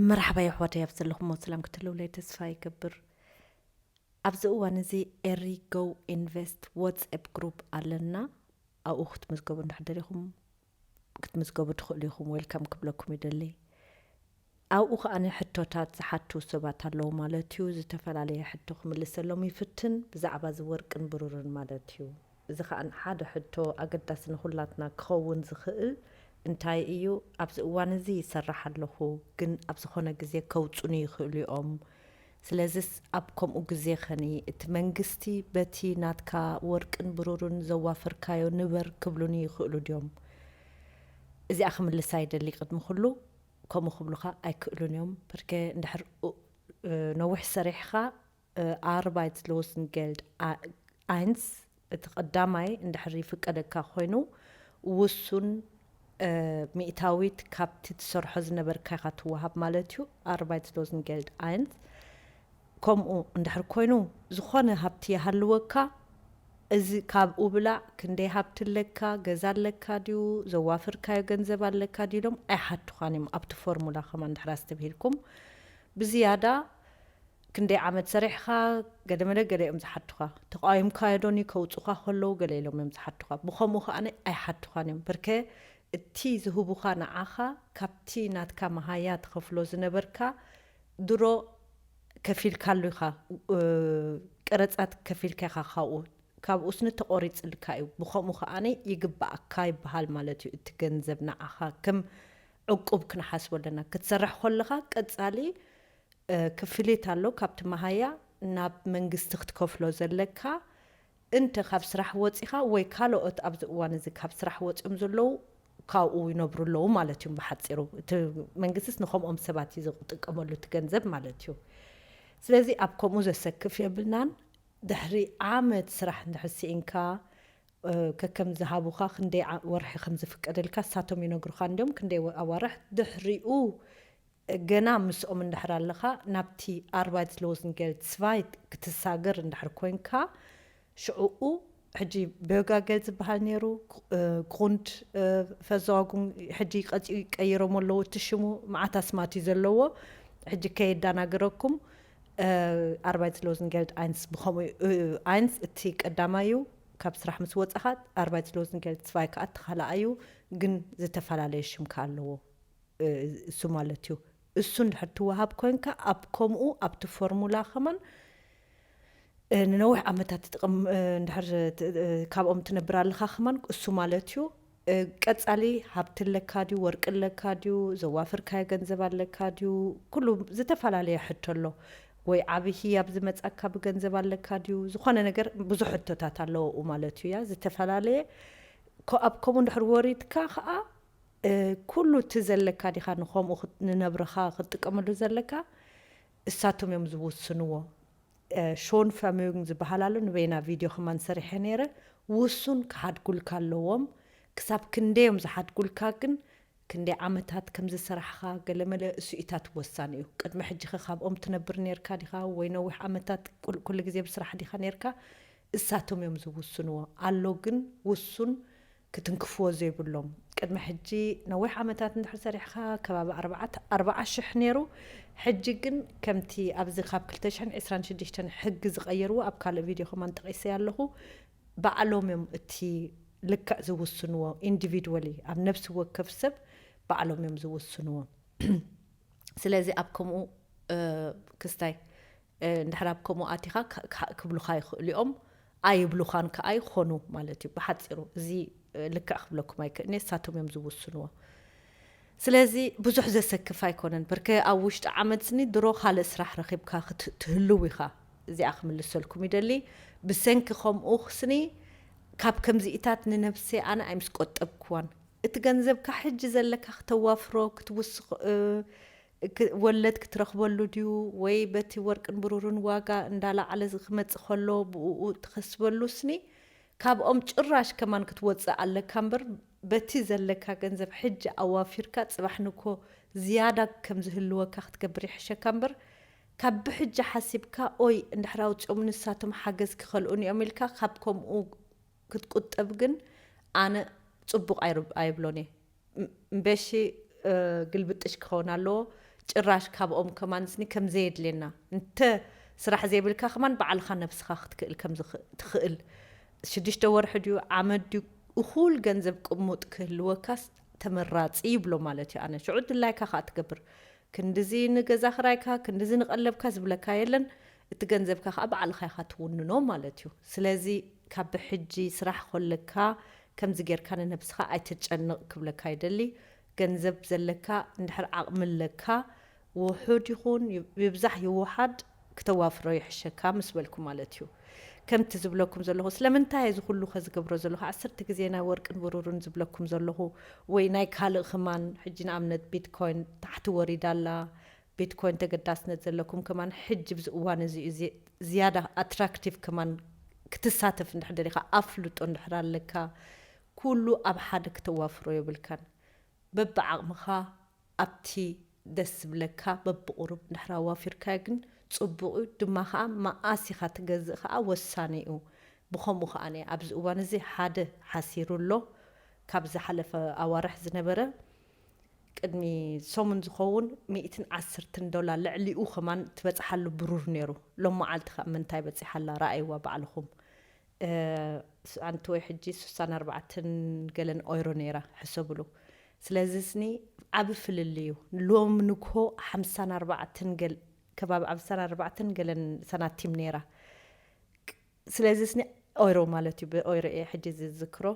መርሓባ የሕዋተይ ኣብ ዘለኹሞ ሰላም ክትህልውለይ ተስፋ ይገብር ኣብዚ እዋን እዚ ኤሪ ጎው ኢንቨስት ወትስኤፕ ግሩፕ ኣለና ኣብኡ ክትምዝገቡ እንድሕር ደሊኹም ክትምዝገቡ ትኽእሉ ኢኹም ዌልካም ክብለኩም ይደሊ ኣብኡ ከኣ ሕቶታት ዝሓቱ ሰባት ኣለዉ ማለት እዩ ዝተፈላለየ ሕቶ ክምልሰሎም ይፍትን ብዛዕባ እዚ ወርቅን ብሩርን ማለት እዩ እዚ ከኣ ሓደ ሕቶ ኣገዳሲ ንኹላትና ክኸውን ዝኽእል እንታይ እዩ፣ ኣብዚ እዋን እዚ ይሰርሕ ኣለኹ፣ ግን ኣብ ዝኾነ ግዜ ከውጹኒ ይኽእሉ እዮም፣ ስለዚስ ኣብ ከምኡ ግዜ ኸኒ እቲ መንግስቲ በቲ ናትካ ወርቅን ብሩርን ዘዋፈርካዮ ንበር ክብሉኒ ይኽእሉ ድዮም? እዚኣ ክምልሳ ይደሊ ቅድሚ ኩሉ ከምኡ ክብሉኻ ኣይክእሉን እዮም፣ ብርኬ እንድሕር ነዊሕ ሰሪሕኻ፣ ኣርባይትሎስንጌልድ ኣይንስ፣ እቲ ቀዳማይ እንድሕር ይፍቀደካ ኮይኑ ውሱን ሚእታዊት ካብቲ ትሰርሖ ዝነበርካ ኢኻ ትወሃብ ማለት እዩ፣ ኣርባይትሎስንጌልድ ኣይንስ፣ ከምኡ እንድሕር ኮይኑ ዝኾነ ሃብቲ ይሃልወካ እዚ ካብኡ ብላዕ፣ ክንደይ ሃብቲ ኣለካ፣ ገዛ ኣለካ ድዩ፣ ዘዋፍርካዮ ገንዘብ ኣለካ ድዩ ኢሎም ኣይሓቱኻን እዮም ኣብቲ ፎርሙላ ከማን እንድሕር ኣስተብሂልኩም ብዝያዳ ክንደይ ዓመት ሰሪሕኻ ገደመለ ገለ እዮም ዝሓቱኻ ተቓዊምካዮ ዶኒ ከውጹኻ ከለዉ ገለ ኢሎም እዮም ዝሓቱኻ ብኸምኡ ከኣ ኣይሓቱኻን እዮም ብርከ እቲ ዝህቡኻ ንዓኻ ካብቲ ናትካ መሃያ ትኸፍሎ ዝነበርካ ድሮ ከፊልካሉ ኢኻ ቀረጻት ከፊልካ ኢኻ ካብኡ ካብኡስኒ ተቖሪጽልካ እዩ ብኸምኡ ከኣ ይግብኣካ ይብሃል ማለት እዩ እቲ ገንዘብ ንዓኻ ከም ዕቁብ ክንሓስቦ ኣለና ክትሰርሕ ከለኻ ቀጻሊ ክፍሊት ኣሎ ካብቲ መሃያ ናብ መንግስቲ ክትከፍሎ ዘለካ እንተ ካብ ስራሕ ወጺኻ ወይ ካሎኦት ኣብዚ እዋን እዚ ካብ ስራሕ ወጺኦም ዘለዉ ካብኡ ይነብሩ ኣለዉ ማለት እዩ ብሓጺሩ እቲ መንግስቲስ ንከምኦም ሰባት እዩ ዝጥቀመሉ እቲ ገንዘብ ማለት እዩ ስለዚ ኣብ ከምኡ ዘሰክፍ የብልናን ድሕሪ ዓመት ስራሕ እንድሕር ሲኢንካ ከከም ዝሃቡኻ ክንደይ ወርሒ ከም ዝፍቀደልካ ንሳቶም ይነግሩኻ እንድዮም ክንደይ ኣዋርሕ ድሕሪኡ ገና ምስኦም እንድሕር ኣለኻ ናብቲ ኣርባይትስሎዝንገል ጽቫይት ክትሳገር እንድሕር ኮንካ ሽዑኡ ሕጂ በዮጋገል ዝበሃል ነይሩ ግሩንድ ፈዘዋጉን ሕጂ ቀጺኡ ቀይሮሞ ኣለዉ እቲ ሽሙ መዓት ኣስማት እዩ ዘለዎ ሕጂ ከየዳናግረኩም ኣርባይትስሎዝንገልድ ኣይንስ ብኸምኡ ኣይንስ እቲ ቀዳማይ እዩ ካብ ስራሕ ምስ ወጻኻ ኣርባይትስሎዝንገል ጽቫይ ከኣ እቲ ካልኣይ እዩ ግን ዝተፈላለየ ሽም ከኣ ኣለዎ እሱ ማለት እዩ እሱ እንድሕር ትወሃብ ኮንካ ኣብ ከምኡ ኣብቲ ፎርሙላ ከማን ንነዊሕ ዓመታት ትጥቕም እንድሕር ካብኦም ትነብር ኣለኻ ከማን እሱ ማለት እዩ ቀጻሊ ሃብቲ ኣለካ ድዩ ወርቂ ኣለካ ድዩ ዘዋፍርካዮ ገንዘብ ኣለካ ድዩ ኩሉ ዝተፈላለየ ሕቶ ኣሎ ወይ ዓቢ ህያብ ዝመጻካ ብገንዘብ ኣለካ ድዩ ዝኾነ ነገር ብዙሕ ሕቶታት ኣለዎኡ ማለት እዩ ያ ዝተፈላለየ ኣብ ከምኡ እንድሕር ወሪድካ ከኣ ኩሉ እቲ ዘለካ ዲካ ንከምኡ ንነብርካ ክትጥቀመሉ ዘለካ እሳቶም እዮም ዝውስንዎ ሾን ፈሙዩንግ ዝባሃል ኣሎ ንበይና ቪድዮ ከማን ሰሪሐ ነይረ ውሱን ክሓድጉልካ ኣለዎም ክሳብ ክንደይ እዮም ዝሓድጉልካ ግን ክንደይ ዓመታት ከምዝሰራሕኻ ገለመለ እሱኢታት ወሳኒ እዩ ቅድሚ ሕጂከ ካብኦም ትነብር ነርካ ዲካ ወይ ነዊሕ ዓመታት ኩሉ ግዜ ብስራሕ ዲካ ነርካ እሳቶም እዮም ዝውስንዎ ኣሎ ግን ውሱን ክትንክፍዎ ዘይብሎም ቅድሚ ሕጂ ነዊሕ ዓመታት እንድሕር ሰሪሕኻ ከባቢ ኣርባዓተ ኣርባዓ ሽሕ ኔሩ ሕጂ ግን ከምቲ ኣብዚ ካብ ክልተ ሽሕን ዕስራን ሽዱሽተን ሕጊ ዝቀየርዎ ኣብ ካልእ ቪድዮ ከማን ጠቂሰያ ኣለኹ ባዕሎም እዮም እቲ ልክዕ ዝውስንዎ ኢንዲቪድወሊ ኣብ ነብሲ ወከፍ ሰብ ባዕሎም እዮም ዝውስንዎ ስለዚ ኣብ ከምኡ ክስታይ እንድሕር ኣብ ከምኡ ኣቲኻ ካእ ክብሉኻ ይኽእሉ እዮም፣ ኣይብሉኻን ካኣ ይኾኑ ማለት እዩ። ብሓጺሩ እዚ ልክዕ ክብለኩም ኣይክእልን እየ ንሳቶም እዮም ዝውስንዎ። ስለዚ ብዙሕ ዘሰክፍ ኣይኮነን በርከ ኣብ ውሽጢ ዓመት ስኒ ድሮ ካልእ ስራሕ ረኺብካ ክት ትህልው ኢኻ። እዚኣ ክምልሰልኩም ይደሊ ብሰንኪ ከምኡ ስኒ ካብ ከምዚኢታት ንነብሰይ ኣነ ኣይምስቆጠብክዋን። እቲ ገንዘብካ ሕጂ ዘለካ ክተዋፍሮ ክትውስኽ ወለድ ክትረኽበሉ ድዩ ወይ በቲ ወርቅን ብሩርን ዋጋ እንዳላዓለ ዝክመጽእ ከሎ ብኡኡ እትከስበሉ ስኒ ካብኦም ጭራሽ ከማን ክትወጽእ ኣለካ እምበር በቲ ዘለካ ገንዘብ ሕጂ ኣዋፊርካ ጽባሕ ንግሆ ዝያዳ ከም ዝህልወካ ክትገብር ይሕሸካ እምበር ካብ ብሕጂ ሓሲብካ ኦይ እንድሕር ኣውጺኦም ንሳቶም ሓገዝ ክከልኡኒ እዮም ኢልካ ካብ ከምኡ ክትቁጠብ ግን ኣነ ጽቡቅ ኣይብሎን እየ። እምበሺ ግልብጥሽ ክኸውን ኣለዎ ጭራሽ ካብኦም ከማንስኒ ከም ዘየድልየና እንተ ስራሕ ዘይብልካ ከማን ባዕልኻ ነብስኻ ክትክእል ከም ትኽእል ሽዱሽተ ወርሒ ድዩ ዓመት ድዩ እኹል ገንዘብ ቅሙጥ ክህልወካስ ተመራጺ ይብሎ ማለት እዩ ኣነ ሽዑ ድላይካ ከኣ ትገብር ክንድዚ ንገዛ ክራይካ ክንድዚ ንቀለብካ ዝብለካ የለን እቲ ገንዘብካ ከኣ ባዕልኻ ኢኻ ትውንኖ ማለት እዩ ስለዚ ካብ ብሕጂ ስራሕ ኮለካ ከምዚ ጌርካ ንነብስኻ ኣይተጨንቕ ክብለካ ይደሊ። ገንዘብ ዘለካ እንድሕር ዓቕሚ ኣለካ ውሑድ ይኹን ይብዛሕ ይወሓድ ክተዋፍሮ ይሕሸካ ምስ በልኩ ማለት እዩ። ከምቲ ዝብለኩም ዘለኹ ስለምንታይ እየ እዚ ኩሉ ከ ዝገብሮ ዘለኹ ዓሰርተ ግዜ ናይ ወርቅን ብሩርን ዝብለኩም ዘለኹ ወይ ናይ ካልእ ክማን ሕጂ ንኣብነት ቢትኮይን ታሕቲ ወሪዳ ኣላ ቢትኮይን ተገዳስነት ዘለኩም ከማን ሕጂ ብዚ እዋን እዚ እዩ ዝያዳ ኣትራክቲቭ ከማን ክትሳተፍ እንድሕር ደሊካ ኣፍልጦ እንድሕር ኣለካ ኩሉ ኣብ ሓደ ክተዋፍሮ የብልካን በብዓቅምካ ኣብቲ ደስ ዝብለካ በብቁሩብ እንድሕር ኣዋፊርካዮ ግን ጽቡቅ እዩ ድማ ከኣ መኣስ ኢካ ትገዝእ ከኣ ወሳኒ እዩ ብከምኡ ከኣ ኣብዚ እዋን እዚ ሓደ ሓሲሩ ኣሎ ካብ ዝሓለፈ ኣዋርሕ ዝነበረ ቅድሚ ሰሙን ዝኸውን ሚእትን ዓስርትን ዶላር ልዕሊኡ ከማን ትበጽሓሉ ብሩር ኔሩ ሎም መዓልቲ ከኣ ምንታይ በጺሓ ኣላ ረኣይዋ ባዕልኹም ኣንቲ ወይ ሕጂ ሱሳን ኣርባዕትን ገለን ኦይሮ ኔራ ሕሰብሉ ስለዚ ስኒ ዓቢ ፍልልይ እዩ ሎም ንግሆ ሓምሳን ኣርባዕትን ገል ከባቢ ዓምሳን ኣርባዕትን ገለን ሰናቲም ኔራ ስለዚ ስኒ ኦይሮ ማለት እዩ ብኦይሮ እየ ሕጂ ዝዝክሮ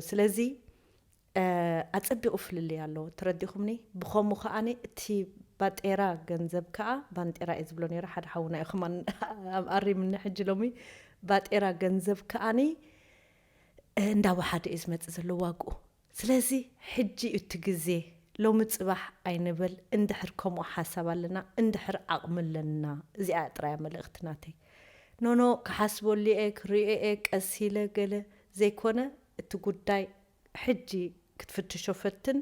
ስለዚ ኣጸቢቑ ፍልልይ ኣሎ ተረዲኹምኒ ብኸሙ ከኣ እቲ ባጤራ ገንዘብ ከኣ ባንጤራ እየ ዝብሎ ነይረ ሓደ ሓውና እዩ ከማን ኣሪምኒ ሕጂ ሎሚ ባጤራ ገንዘብ ከኣ እንዳ ወሓደ እዩ ዝመጽእ ዘሎ ዋግኡ ስለዚ ሕጂ እዩ እቲ ግዜ ሎሚ ጽባሕ ኣይንበል እንድሕር ከምኡ ሓሳብ ኣለና እንድሕር ዓቕሚ ኣለና እዚኣ እያ ጥራይ መልእኽቲ ናተይ ኖኖ ክሓስበሉ እየ ክርእዮ እየ ቀስ ኢለ ገለ ዘይኮነ እቲ ጉዳይ ሕጂ ክትፍትሾ ፈትን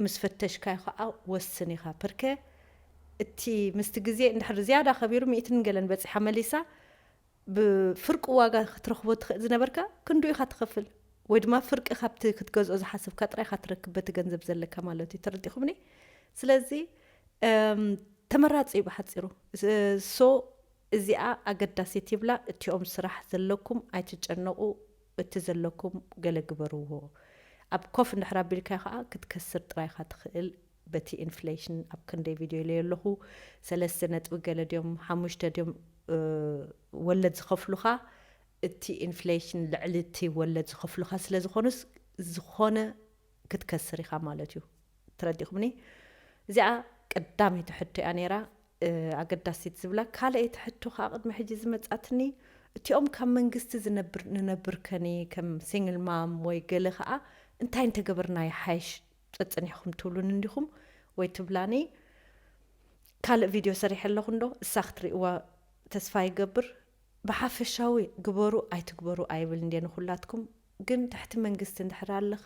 ምስ ፈተሽካዮ ከኣ ወስን ኢኻ ፕርከ እቲ ምስቲ ግዜ እንድሕር ዝያዳ ከቢሩ ሚእትን ገለን በጺሓ መሊሳ ብፍርቁ ዋጋ ክትረኽቦ ትኽእል ዝነበርካ ክንድኡ ኢኻ ትኸፍል ወይ ድማ ፍርቂ ካብቲ ክትገዝኦ ዝሓሰብካ ጥራይ ኢኻ ትረክብ በቲ ገንዘብ ዘለካ ማለት እዩ ተረዲኹምኒ ስለዚ ተመራጺ እዩ ብሓጺሩ ሶ እዚኣ ኣገዳሲት ይብላ እቲኦም ስራሕ ዘለኩም ኣይትጨነቁ እቲ ዘለኩም ገለ ግበርዎ ኣብ ኮፍ እንድሕር ኣቢልካዮ ከኣ ክትከስር ጥራይ ኢካ ትክእል በቲ ኢንፍለሽን ኣብ ክንደይ ቪድዮ ኢለዮ ኣለኩ ሰለስተ ነጥቢ ገለ ድዮም ሓሙሽተ ድዮም ወለድ ዝከፍሉካ እቲ ኢንፍለሽን ልዕሊ እቲ ወለድ ዝከፍሉካ ስለ ዝኮኑስ ዝኮነ ክትከስር ኢኻ ማለት እዩ ትረዲኹምኒ እዚኣ ቀዳመይቲ ሕቶ እያ ነይራ ኣገዳሲት ዝብላ ካልኣይቲ ሕቶ ከዓ ቅድሚ ሕጂ ዝመጻትኒ እቲኦም ካብ መንግስቲ ዝነብር ንነብር ከኒ ከም ሲንግል ማም ወይ ገለ ከዓ እንታይ እንተገበርና ይሓይሽ ጸጽኒሕኹም ትብሉኒ እንዲኹም ወይ ትብላኒ ካልእ ቪድዮ ሰሪሐ ኣለኹ እንዶ እሳ ክትሪእዋ ተስፋ ይገብር ብሓፈሻዊ ግበሩ ኣይትግበሩ ኣይብልን ድየ ንኹላትኩም ግን ትሕቲ መንግስቲ እንድሕር ኣለኻ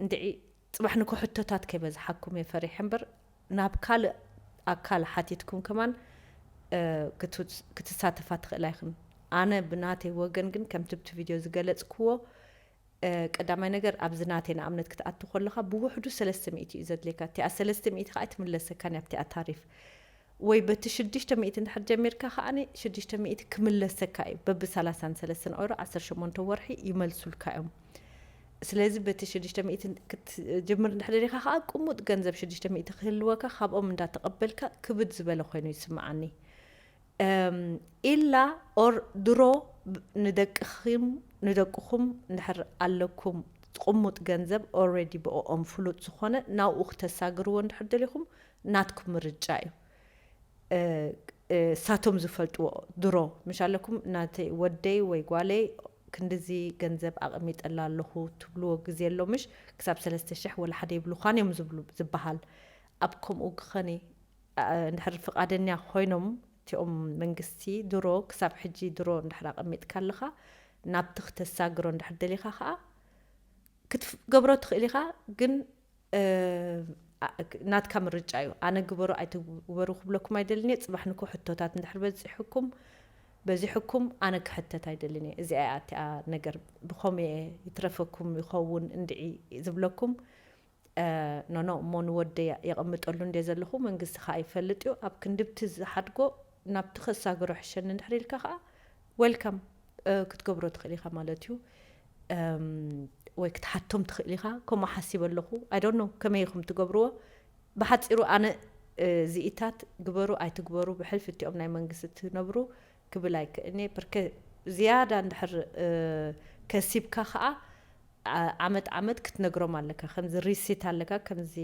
እንድዒ ፅባሕ ንግሆ ሕቶታት ከይበዝሓኩም እየ ፈሪሐ እምበር ናብ ካልእ ኣካል ሓቲትኩም ከማን ክትሳተፋ ትኽእላ ይኽን ኣነ ብናተይ ወገን ግን ከምቲ ብቲ ቪድዮ ዝገለፅክዎ ቀዳማይ ነገር ኣብዚ ናተይ ንኣብነት ክትኣቱ ከለኻ ብውሕዱ ሰለስተ ሚእቲ እዩ ዘድልየካ እቲኣ ሰለስተ ሚእቲ ከዓ ኣይትምለሰካን እያ ኣብቲኣ ታሪፍ ወይ በቲ ሽዱሽተ ሚእቲ እንድሕር ጀሚርካ ከዓ ሽዱሽተ ሚእቲ ክምለሰካ እዩ በቢ ሰላሳን ሰለስተን ኦሮ ዓሰርተ ሸሞንተ ወርሒ ይመልሱልካ እዮም ስለዚ በቲ ሽዱሽተ ሚእቲ ክትጅምር እንድሕር ደሊኻ ከዓ ቅሙጥ ገንዘብ ሽዱሽተ ሚእቲ ክህልወካ ካብኦም እንዳተቐበልካ ክብድ ዝበለ ኮይኑ ይስምዓኒ እም ኢላ or ድሮ ንደቅኺም ንደቅኹም እንድሕር ኣለኩም ቁሙጥ ገንዘብ already ብኦኦም ፍሉጥ ዝኾነ ናብኡ ክተሳግርዎ እንድሕር ደሊኹም ናትኩም ምርጫ እዩ እሳቶም ዝፈልጥዎ ድሮ ምሽ ኣለኩም ናተይ ወደይ ወይ ጓለይ ክንድዚ ገንዘብ ኣቀሚጠላ ኣለኹ ትብልዎ ግዜ ኣሎ ምሽ ክሳብ ሰለስተ ሽሕ ወላ ሓደ ይብልዃን እዮም ዝብሉ ዝባሃል ኣብ ከምኡ ግኸኔ እንድሕር ፍቃደኛ ኮይኖም እቲኦም መንግስቲ ድሮ ክሳብ ሕጂ ድሮ እንድሕር ኣቀሚጥካ ኣለኻ ናብቲ ክተሳግሮ እንድሕር ደሊኻ ከኣ ክትገብሮ ትኽእል ኢኻ ግን ናትካ ምርጫ እዩ ኣነ ግበሩ ኣይትግበሩ ክብለኩም ኣይደልን እየ ጽባሕ ንኩ ሕቶታት እንድሕር በጺሑኩም በዚሕኩም ኣነ ክሕተት ኣይደልን እየ እዚኣ እያ እቲኣ ነገር ብኸምኡ እየ ይትረፈኩም ይኸውን እንድዒ ዝብለኩም ኖኖ እሞ ንወደይ የቐምጠሉ እንድየ ዘለኹ መንግስቲ ከኣ ይፈልጥ እዩ ኣብ ክንድብቲ ዝሓድጎ ናብቲ ከሳግሮ ይሕሸኒ እንድሕር ኢልካ ከኣ Welcome ክትገብሮ ትኽእል ኢኻ ማለት እዩ ወይ ክትሓቶም ትኽእል ኢኻ ከምኡ ሓሲበ ኣለኹ I don't know ከመይ ኢኹም ትገብርዎ ብሓጺሩ ኣነ እዚኢታት ግበሩ ኣይትግበሩ ብሕልፊ እቲኦም ናይ መንግስቲ ትነብሩ ክብል ኣይክእልን እየ ብርከ ዝያዳ እንድሕር ከሲብካ ከኣ ዓመት ዓመት ክትነግሮም ኣለካ ከምዚ ሪሲት ኣለካ ከምዚ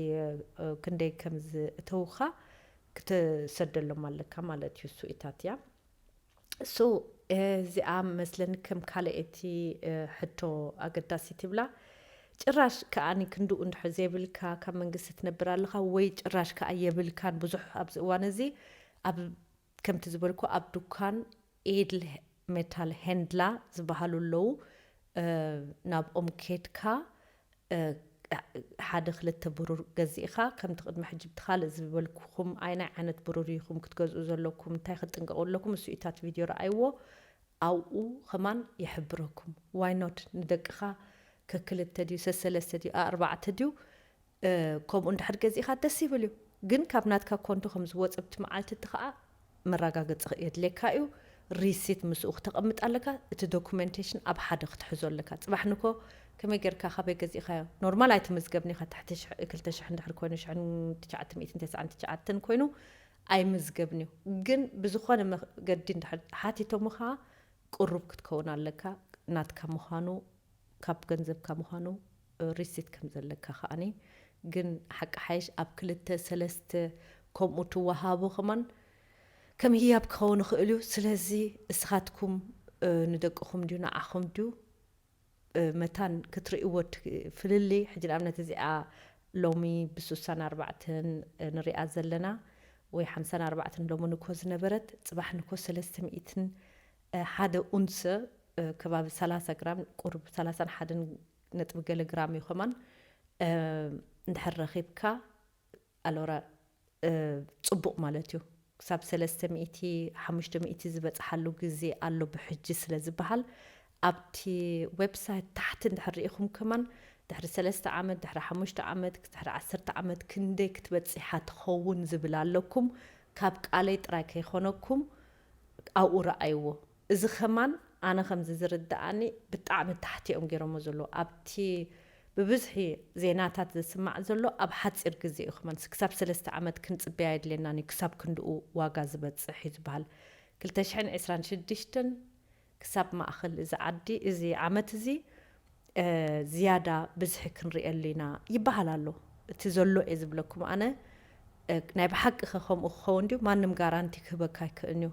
ክንደይ ከም ዝእተውካ ክትሰደሎም ኣለካ ማለት እዩ እሱ እታት እያ እሱ እዚኣ መስለኒ ከም ካልኤቲ ሕቶ ኣገዳሲ ትብላ ጭራሽ ከኣኒ ክንድኡ እንድሕር ዘይብልካ ካብ መንግስቲ ትነብር ኣለካ ወይ ጭራሽ ከኣ የብልካን ብዙሕ ኣብዚ እዋን እዚ ኣብ ከምቲ ዝበልኩ ኣብ ዱካን ኤድል ሜታል ሄንድላ ዝበሃሉ ኣለዉ ናብኦም ኬድካ ሓደ ክልተ ብሩር ገዚእኻ ከምቲ ቅድሚ ሕጂ ብቲ ካልእ ዝበልኩኹም ኣይናይ ዓይነት ብሩር ኢኹም ክትገዝኡ ዘለኩም እንታይ ክትጥንቀቁ ኣለኩም እሱ እዩ ታቲ ቪድዮ ረኣይዎ ኣብኡ ከማን ይሕብረኩም ዋይ ኖት ንደቅኻ ከክልተ ድዩ ሰሰለስተ ድዩ ኣኣርባዕተ ድዩ ከምኡ እንድሕር ገዚእኻ ደስ ይብል እዩ ግን ካብ ናትካ ኮንቶ ከም ዝወጸ ብቲ መዓልቲ እቲ ከኣ መራጋገጺ ክየድልየካ እዩ ሪሲት ምስኡ ክተቀምጥ ኣለካ እቲ ዶኩመንቴሽን ኣብ ሓደ ክትሕዞ ኣለካ ጽባሕ ንግሆ ከመይ ገርካ ካበይ ገዚእኻዮ ኖርማል ኣይትምዝገብን ኢኻ ትሕቲ ሽሕ ክልተ ሽሕ እንድሕር ኮይኑ ሽሕን ትሽዓተ ሚእትን ተስዓን ትሽዓተን ኮይኑ ኣይምዝገብን እዩ ግን ብዝኾነ መገዲ እንድሕር ሓቲቶምኻ ቅሩብ ክትከውን ኣለካ ናትካ ምዃኑ ካብ ገንዘብካ ምዃኑ ሪሲት ከም ዘለካ ከኣኒ ግን ሓቂ ሓይሽ ኣብ ክልተ ሰለስተ ከምኡ ትወሃቡ ከማን ከም ህያብ ክኸውን ይኽእል እዩ ስለዚ እስኻትኩም ንደቅኹም ድዩ ንዓኹም ድዩ መታን ክትርእይዎ እቲ ፍልልይ ሕጂ ንኣብነት እዚኣ ሎሚ ብሱሳን ኣርባዕተን ንሪኣ ዘለና ወይ ሓምሳን ኣርባዕተን ሎሚ ንኮ ዝነበረት ጽባሕ ንኮ ሰለስተ ሚእትን ሓደ ኡንሰ ከባቢ ሰላሳ ግራም ቁሩብ ሰላሳን ሓደን ነጥቢ ገለ ግራም እዩ ከማን እንድሕር ረኺብካ ኣሎራ ጽቡቅ ማለት እዩ ክሳብ ሰለስተ ሚእቲ ሓሙሽተ ሚእቲ ዝበጽሓሉ ግዜ ኣሎ ብሕጂ ስለ ዝበሃል ኣብቲ ዌብሳይት ታሕቲ እንድሕር ርኢኹም ከማን ድሕሪ ሰለስተ ዓመት ድሕሪ ሓሙሽተ ዓመት ድሕሪ ዓሰርተ ዓመት ክንደይ ክትበጽሓ ትኸውን ዝብል ኣለኩም ካብ ቃለይ ጥራይ ከይኮነኩም ኣብኡ ረኣይዎ። እዚ ከማን ኣነ ከምዚ ዝርደኣኒ ብጣዕሚ ታሕቲ እዮም ጌሮሞ ዘለዉ ኣብቲ ብብዝሒ ዜናታት ዝስማዕ ዘሎ ኣብ ሓጺር ግዜ እዩ ከማን ስክሳብ ሰለስተ ዓመት ክንጽበይ ኣየድልየናን እዩ ክሳብ ክንድኡ ዋጋ ዝበጽሕ እዩ ዝበሃል ክልተ ሽሕን ዕስራን ሽዱሽተን ክሳብ ማእከል እዚ ዓዲ እዚ ዓመት እዚ ዝያዳ ብዝሒ ክንርእየሉ ኢና ይበሃል ኣሎ እቲ ዘሎ እየ ዝብለኩም ኣነ ናይ ብሓቂ ከ ከምኡ ክኸውን ድዩ ማንም ጋራንቲ ክህበካ ኣይክእን እዩ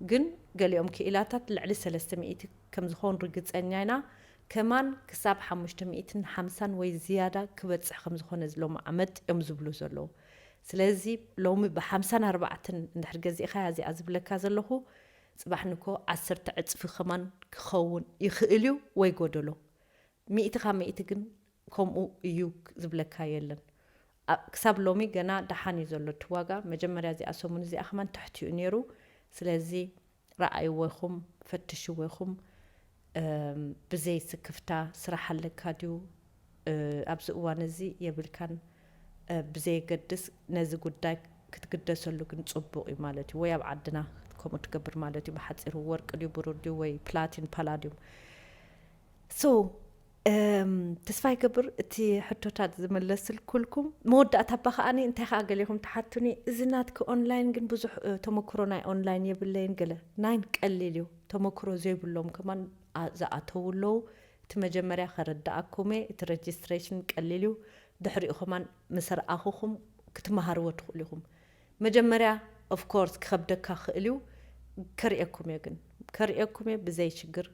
ግን ገሊኦም ክኢላታት ልዕሊ ሰለስተ ሚእቲ ከም ዝኸውን ርግጸኛ ኢና ከማን ክሳብ ሓሙሽተ ሚእትን ሓምሳን ወይ ዝያዳ ክበጽሕ ከም ዝኾነ ሎሚ ዓመት እዮም ዝብሉ ዘለዉ ስለዚ ሎሚ ብሓምሳን ኣርባዕትን እንድሕር ገዚእኻያ እዚኣ ዝብለካ ዘለኹ ጽባሕ ንግሆ ዓሰርተ ዕጽፊ ከማን ክኸውን ይኽእል እዩ ወይ ጎደሎ ሚእቲ ካብ ሚእቲ ግን ከምኡ እዩ ዝብለካ የለን ክሳብ ሎሚ ገና ደሓን እዩ ዘሎ እቲ ዋጋ መጀመርያ እዚኣ ሰሙን እዚኣ ከማን ትሕቲኡ ነይሩ ስለዚ ረኣይዎ ኢኹም ፈትሽዎ ኢኹም ብዘይ ስክፍታ ስራሕ ኣለካ ድዩ ኣብዚ እዋን እዚ የብልካን ብዘየገድስ ነዚ ጉዳይ ክትግደሰሉ ግን ጽቡቅ እዩ ማለት እዩ ወይ ኣብ ዓድና ከምኡ ትገብር ማለት እዩ ብሓጺሩ ወርቂ ድዩ ብሩር ድዩ ወይ ፕላቲን ፓላድዩም so ተስፋ ይገብር እቲ ሕቶታት ዝመለስልኩልኩም መወዳእታ እባ ከኣ እንታይ ከኣ ገሌኹም ትሓቱኒ እዚ ናትኪ ኦንላይን ግን ብዙሕ ተመክሮ ናይ ኦንላይን የብለይን ገለ ናይን ቀሊል እዩ ተመክሮ ዘይብሎም ከማን ዝኣተው ኣለዉ እቲ መጀመርያ ከረዳኣኩም እየ እቲ ረጅስትሬሽን ቀሊል እዩ ድሕሪኡ ከማን ምስ ረኣኹኹም ክትመሃርዎ ትኽእሉ ኢኹም መጀመርያ ኦፍኮርስ ክኸብደካ ክእል እዩ ከርእየኩም እየ ግን ከርእየኩም እየ ብዘይ ሽግር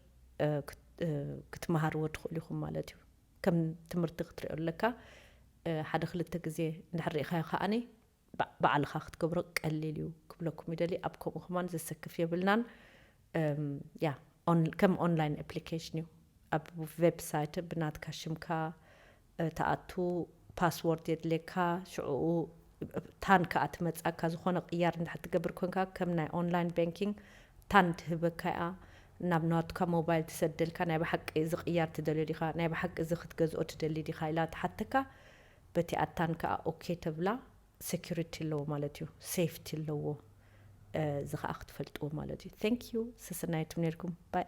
ክትመሃርዎ ትኽእሉ ኢኹም ማለት እዩ። ከም ትምህርቲ ክትሪኦ ኣለካ። ሓደ ክልተ ግዜ እንድሕር ሪኢኻዮ ከኣ ባዕልኻ ክትገብሮ ቀሊል እዩ ክብለኩም ይደሊ። ኣብ ከምኡ ከማን ዘሰክፍ የብልናን። ያ ከም ኦንላይን ኣፕሊኬሽን እዩ። ኣብ ዌብሳይት ብናትካ ሽምካ ትኣቱ ፓስዎርድ የድልየካ ሽዑኡ ታን ክኣ ትመጻካ ዝኮነ ቅያር እንድሕር ትገብር ኮንካ ከም ናይ ኦንላይን ባንኪንግ ታን ትህበካ እያ ናብ ናትካ ሞባይል ትሰደልካ ናይ ብሓቂ እዚ ቅያር ትደልዮ ዲካ ናይ ብሓቂ እዚ ክትገዝኦ ትደሊ ዲካ ኢላ ትሓተካ በቲኣ ታን ክኣ ኦኬ ተብላ ሰኩሪቲ ኣለዎ ማለት እዩ ሰይፍቲ ኣለዎ እዚ ክኣ ክትፈልጥዎ ማለት እዩ ቴንክ ዩ ሰሰናዩ ትም ነርኩም ባይ።